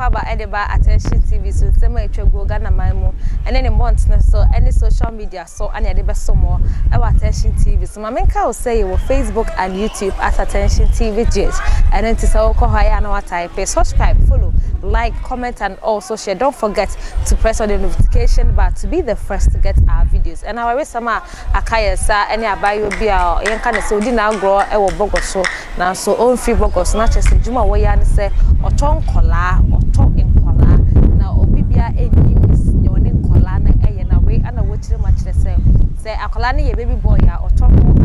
aba de ba attention tv so nsɛm a atwa guo ghana man mu ɛne ne mmɔntene so ɛne social media so ɛne ɛde bɛso mo ɛwɔ attention tv so maame nka wo sɛ yɛwɔ facebook and youtube at attention tv gh ɛno nti sɛ wokɔ hɔ ayɛ a na wataipe subscribe follow like comment and also share don't forget to press on the notification bar to be the first to get our videos ɛna waresɛm a aka yɛn sa ɛne abaayewa bi a yɛnka ne sɛ odi n'agorɔ ɛwɔ bɔgɔ so nanso ɔmfiri bɔgɔ so na kyerɛ sɛ adwuma a wɔyɛ ara ne sɛ ɔtɔ nkɔlaa ɔtɔ nkɔlaa na obi bia ɛnnim nea ɔne nkɔlaa no ɛyɛ na wei ɛna wɔkyerɛ mu akyerɛ sɛ sɛ akɔlaa no yɛ baby boy a ɔtɔ no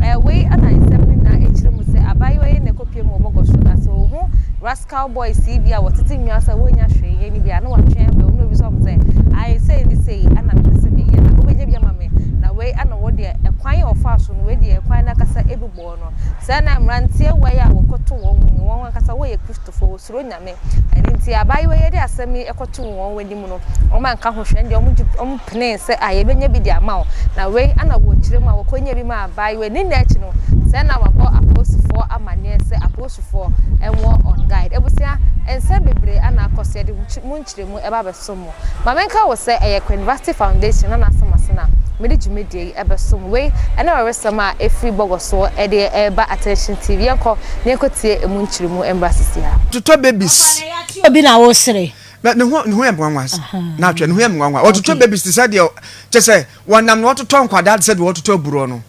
Ɛɛ wei na nsɛm no nyinaa akyiri mu sɛ abaayewa yi na ɛkɔpie mu wɔ bɔgɔso na sɛ ɔhu rascal boys yi bi a wɔtete nnwa sɛ wɔnya hwee yɛ no bi a na watwe abɛ wɔn na obi sɛ wɔn sɛ ae sei ne sei ana mepɛ sɛ meyɛ na wobɛnya bi ama me na wei ana wɔ deɛ ɛkwan a ɔfaa so no wei deɛ ɛkwan no akasa ɛbi bɔɔ no sɛ na mmeranteɛ wei a wɔkɔto wɔn wɔn ankasa wɔyɛ kristofo wɔsuro nya Maame. Ɛno nti abaayewa yi ɛde asɛm yi ɛkɔtoo wɔn anim no, wɔn anka ho hwɛ, ɛndeɛ wɔn gye, wɔn penee sɛ ah yɛbɛnya bi de ama wo. Na wei ɛna wɔkyerɛ mu a wɔkɔnya bi maa abaayewa yi. Ne nna akyi no, sɛ na wabɔ apolisifoɔ amaneɛ sɛ apolisifoɔ ɛwɔ wɔn guide. Abusua, nsɛm bebree ɛna akɔ so, yɛde mo nkyerɛmu ɛba abɛso mo. Ma menka wo sɛ ɛyɛ Kween Vasti Foundation na n'asɛm ase na mede dwumadie yi ɛbɛso mo. Wei ɛne ɔweresɛm a ɛfiri Bɔgɔ soɔ ɛde ɛreba Attention TV. Yɛnkɔ na yɛnkɔ tie ɛmu nkyeremu mmra sisi ha. Totɔ babies. Ɔte obi na wosere. Na ne ho ne ho yɛ nwanwa na atwɛ ne ho yɛ nwanwa. Ɔtotɔ babies te sɛ deɛ kyɛ sɛ wɔnam na wɔtotɔ nkwadaa te sɛ deɛ wɔtotɔ aburɔ no.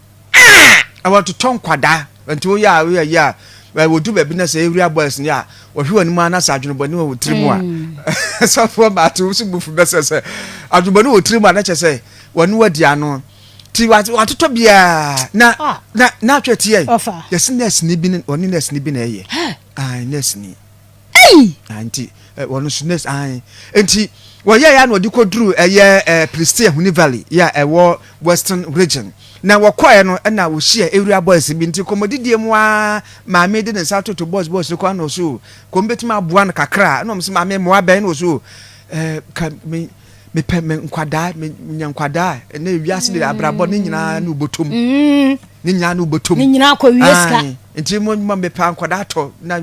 a wɔtotɔ nkwadaa nti woyɛ a woyɛ yɛ a wɔdu baabi na sɛ area boys ni a wɔhwe wɔn anim ana sɛ adwenebɔne wɔ wɔ tiri mu a sɔfoɔ baate wo so bufu bɛsɛ sɛ adwenebɔne wɔ tiri mu a na kyɛ sɛ wɔne wadi ano ti watotɔ biara na na na atwɛ tiɛ yɛsi nɛɛsini bi ne ɔne nɛɛsini bi na ɛyɛ nɛɛsini Ei! Ah, nti eh, wɔn nso nurse ahan. Nti wɔyɛ ya na wɔde kɔduru ɛyɛ eh, Philistia Huni Valley yɛ a ɛwɔ Western Region. Na wɔkɔɛ no ɛna wɔhyia area boys bi nti kɔmmɔdidie mu ara maame de ne nsa toto boys boys no kɔ ɛna ɔso kɔm bɛtumi aboa no kakra ɛna wɔn sɛ maame mmoa bɛn na ɔso eh, ka me mepɛ me nkwadaa me nya nkwadaa ɛnɛ wiase de abrabɔ ne nyinaa ne wobɔtom mm. ne nyinaa ne wobɔtom ne nyinaa kɔ wie sika nti mo mepɛ nkwadaa tɔ na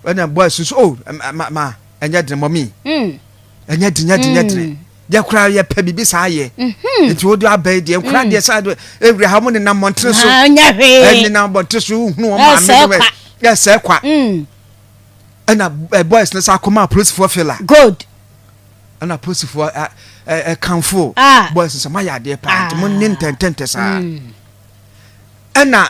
ɛna boy susu o oh, ma ma ɛnyɛ dene mɔmi mm. ɛnyɛ dene nyɛ dene nyɛ dene mm. yɛ kora yɛ pɛ biribi saa yɛ mm-hmm. nti o de abɛɛ deɛ nkora mm. deɛ saa deɛ ewura ha mo ne nam mɔntene so ɛne nam mɔntene so hunu wɔn maame no wɛ yɛ sɛ kwa ɛna ɛ boys ne sa akoma polisifoɔ fila good ɛna polisifoɔ ɛ ɛ kanfo ah. boys sɛ mo ayɛ adeɛ paa nti mo ne ntɛntɛntɛ saa ɛna.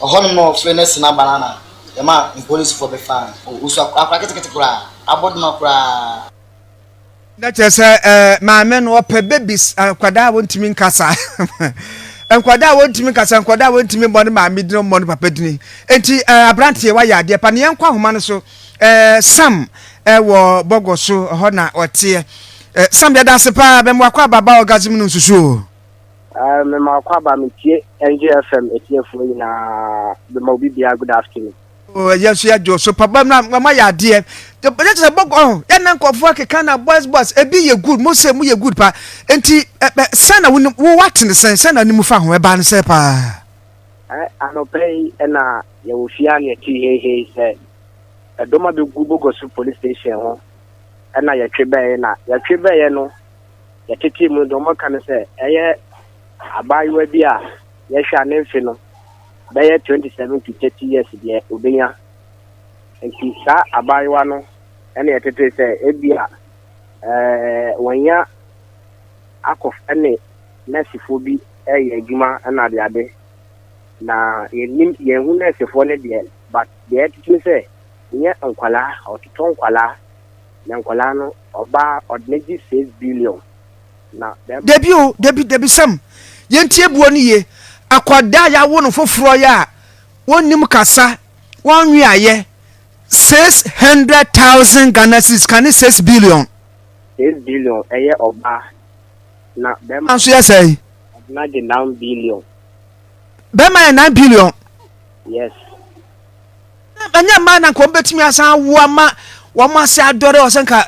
Ɔhɔnom na wɔfrɛɛ no Asina Banana ma mpolisifo bɛfaa no. O, osu akora akora ketekete koraa, abodoma koraa. Na kyerɛ sɛ eh, maame no ɔpɛ babies, nkwadaa a wɔntumi nkasa. nkwadaa a wɔntumi nkasa, nkwadaa a wɔntumi mmɔ ne maame din, wɔmmɔ ne papa din. Enti eh, aberanteɛ, woayɛ adeɛ pa. Ne yɛnkɔ ahoma no so. Eh, Sam eh, wɔ bɔgɔ so, hɔ na ɔteɛ. Eh, Sam, yɛda ase paa, bɛmmoa kɔ ababaa orgasm no nsusu o. Uh, me ma kwa ba me tie NGFM etiefo nyina me ma obi bia good afternoon. Oh, yɛn nso yɛgye so papa na mama yɛ adeɛ yɛ sɛ bɔgɔ ɔho oh, yɛn na nkɔfoɔ akeka na boys boys ebi yɛ good mo sɛ mo yɛ good pa nti ɛ ɛ sɛn na wo wo watene sɛn sɛn na ne mu fa ho ɛbaa ne sɛ paa. ɛ anɔpɛ yi ɛna yɛwɔ fie a na yɛte heihei sɛ ɛdɔm abɛgu bɔgɔ so police station ho ɛna yɛtwe bɛyɛ na yɛtwe bɛyɛ no. yɛtetee mu deɛ wɔka no sɛ ɛyɛ abaayewa bi a yɛhwɛ a ne mfe no bɛyɛ 27 to 30 years deɛ obenya nti saa abaayewa no ɛna yɛtetee sɛ ebi a ɛɛ wɔnya akɔ ɛne nɛɛsefoɔ bi ɛyɛ adwuma ɛna ade ade na yɛnim yɛn ho nɛɛsefoɔ no deɛ but deɛ ɛtete sɛ nyɛ nkwalaa ɔtotɔ nkwalaa na nkwadaa no ɔbaa ɔde ne gye six billion na bɛrima. Dabi o dabi dabi sɛm yɛn ti ebuo ne yie akwadaa a yɛawo no foforɔ yɛ a wɔnnim kasa wɔn nwi ayɛ six hundred thousand Ghana cedis ka ne six billion. Six billion ɛyɛ ɔbaa na bɛrima. Nanso yɛ sɛ yi. Ɔde na gye nine billion. Bɛrima yɛ nine billion. Yes. Na ɛnyɛ mmaa na nka wɔn bɛtumi asan awo ama wɔn ase adɔre ɔsɛ nka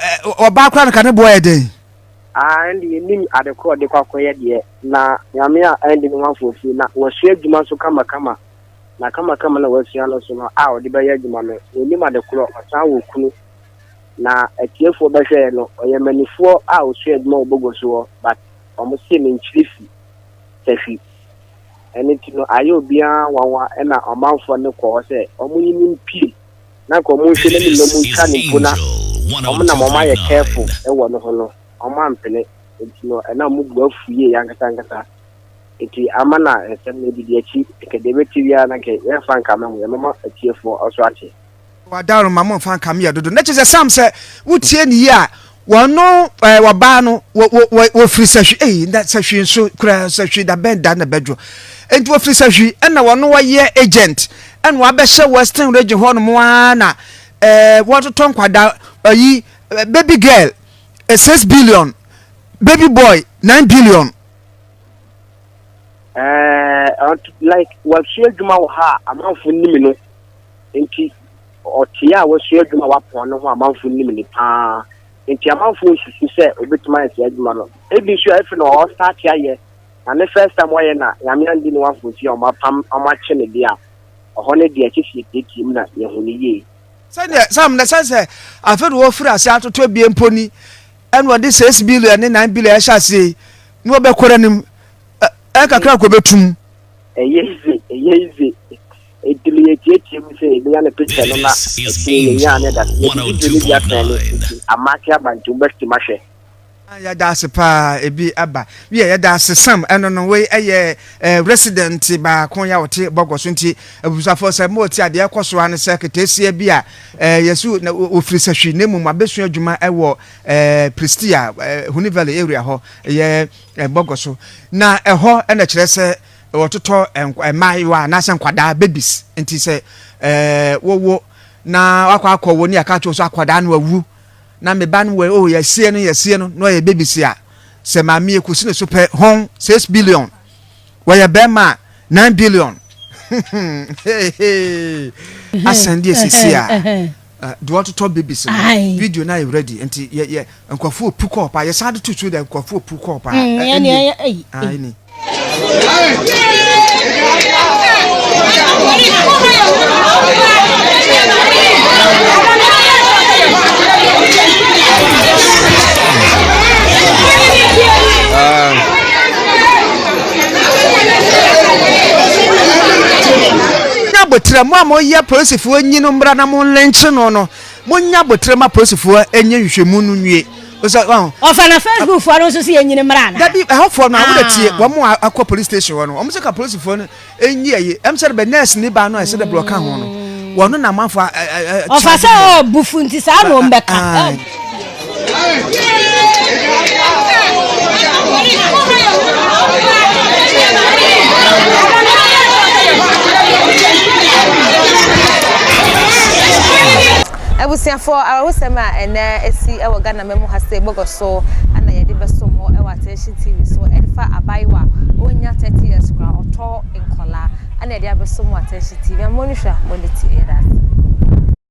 ɔbaa koraa nka ne boɔ yɛ den. Ah, ɛnde yɛnim ade korɔ de kwakɔyɛ deɛ, na nyame a ɛnde ne ho afoɔfie, na wasua adwuma nso kamakama, na kamakama na wasua no nso no a ɔde bɛyɛ adwuma no, ɔnim ade korɔ, ɔsan wɔ kunu, na atiefoɔ bɛhwɛɛ no, ɔyɛ manifoɔ a ɔsua adwuma wɔ Bogoso hɔ, but wɔn se menkyiri fi, sahwi. ɛno nti no ayɛ obiara nwanwa ɛna ɔmanfoɔ no kɔ hɔ sɛ ɔmo yi no mpue na nka ɔmo nhwɛ n'anim na ɔmo ntwa no mpo na ɔmo nam ɔmo ayɛ careful ɛwɔ no ho no ɔmo ampene nti no ɛna ɔmo bo afu yie ankasa ankasa nti ama na nsɛm no adidi akyi nka deɛ ɛbɛte biara na nka yɛmfa nka ma mu yɛmɛma atiefoɔ ɔso ate. Wadaworo ma mo nfa nka me yɛ dodo. Na kyerɛ sɛ Sam sɛ wotie ne yie a wɔno ɛɛ wɔbaa no wɔ wɔ wɔ wɔfiri sahwi eyi na sahwi nso kura sahwi da bɛn da na bɛdwo. Nti wɔfiri sahwi ɛna wɔno wɔyɛ agent ɛna wɔabɛhyɛ western region hɔ nom ara na ɛɛ wɔtotɔ nkwadaa ɛyi baby girl six billion baby boy nine billion. Ɛɛ like wɔasua adwuma wɔ ha a amanfo nim no. Enti ɔteɛ a wasua adwuma a wapɔn no ho amanfo nim ne paa. Enti amanfo nsusu sɛ obetumi ayɛ saa adwuma no. Ebi nso a efi na ɔstarte ayɛ na ne first time wayɛ na Nyame andi ne wafo nti a wɔapam wɔakye ne de a, ɔhɔ no deɛ ɛkyɛ sɛ yɛtiatia mu na yɛhu no yie. Sɛdeɛ Sam na ɛsɛ sɛ afe na wɔfiri ase atoto abien mpo ni ɛna wɔde six billion ne nine billion ɛhyɛ aseɛ yi na wɔbɛkɔ n'anim. Ɛ, ɛnkakra nko bɛtum. Ɛyɛ yize, ɛyɛ yize. Ɛtumi yɛ tiatia mu sɛ yɛbɛnya ne picture no na ɛtumi yɛnya ne da. Yɛde video no bi asɛn no nti ama ase aba nti wobɛtumi ahwɛ. Yɛda ase paa ebi aba wiɛ yɛda ase sam ɛno no wei ɛyɛ eh, resident baako yɛ a ɔte bɔgɔ so nti abusafo sɛ mo ti adeɛ ɛkɔ so ano sɛ keteesia bi a eh, yɛsu na ofiri sɛ hwi ne mmom abɛsua adwuma ɛwɔ eh, Pristia eh, Huni Valley area hɔ ɛyɛ eh, bɔgɔ so na ɛhɔ ɛna kyerɛ sɛ wɔtotɔ nkwa mmaayewa anaasɛ nkwadaa babies nti sɛ ɛɛ wowo na wakɔ akɔ wo ne yɛka kyerɛ so akwadaa no awu na me ba no wɔ oh yɛsie no yɛsie no na ɔyɛ babies a sɛ maame yɛ kusi ne so pɛ hon six billion wɔyɛ bɛrima a nine billion asɛn deɛ sisi a Eh, de wɔtotɔ babies no video no ayɛ ready nti yɛ yɛ nkurɔfoɔ pu kɔɔ paa yɛsan de to so dɛ nkurɔfoɔ pu kɔɔ paa ɛni. Nya aboterɛ mo a mo yɛ polisifoɔ nyi no mmra na mo nlenkye no no mo nya aboterɛ ma polisifoɔ nyɛ nhwehwɛmu no nwie osɛ wahu. Ɔfa na Facebook foɔ no nso sɛ yɛnyi no mmra anaa. Dabi ɛhɔ foɔ no a wode tie wɔn a akɔ police station hɔ no wɔn sɛ ka polisifoɔ no nyi ɛyi ɛm sɛ bɛ nurse ni baa no a ɛsɛ dɛ brɛ ɔka ho no wɔn no na amanfoɔ a ɛɛ. Ɔfa sɛ ɔɔ bufu nti saa na wɔn bɛka. Abusuafoɔ, awerɛhosɛm a ɛnɛ asi wɔ Ghana ma mu ha sei bɔgɔ so na yɛde bɛso mo wɔ Attention TV so ɛde fa abaayewa a ɔnnya 30 years koraa ɔtɔ nkɔlaa na yɛde abɛso mo wɔ Attention TV. Mo ani hwɛ a, mo ani te ɛyɛ dɛ ase.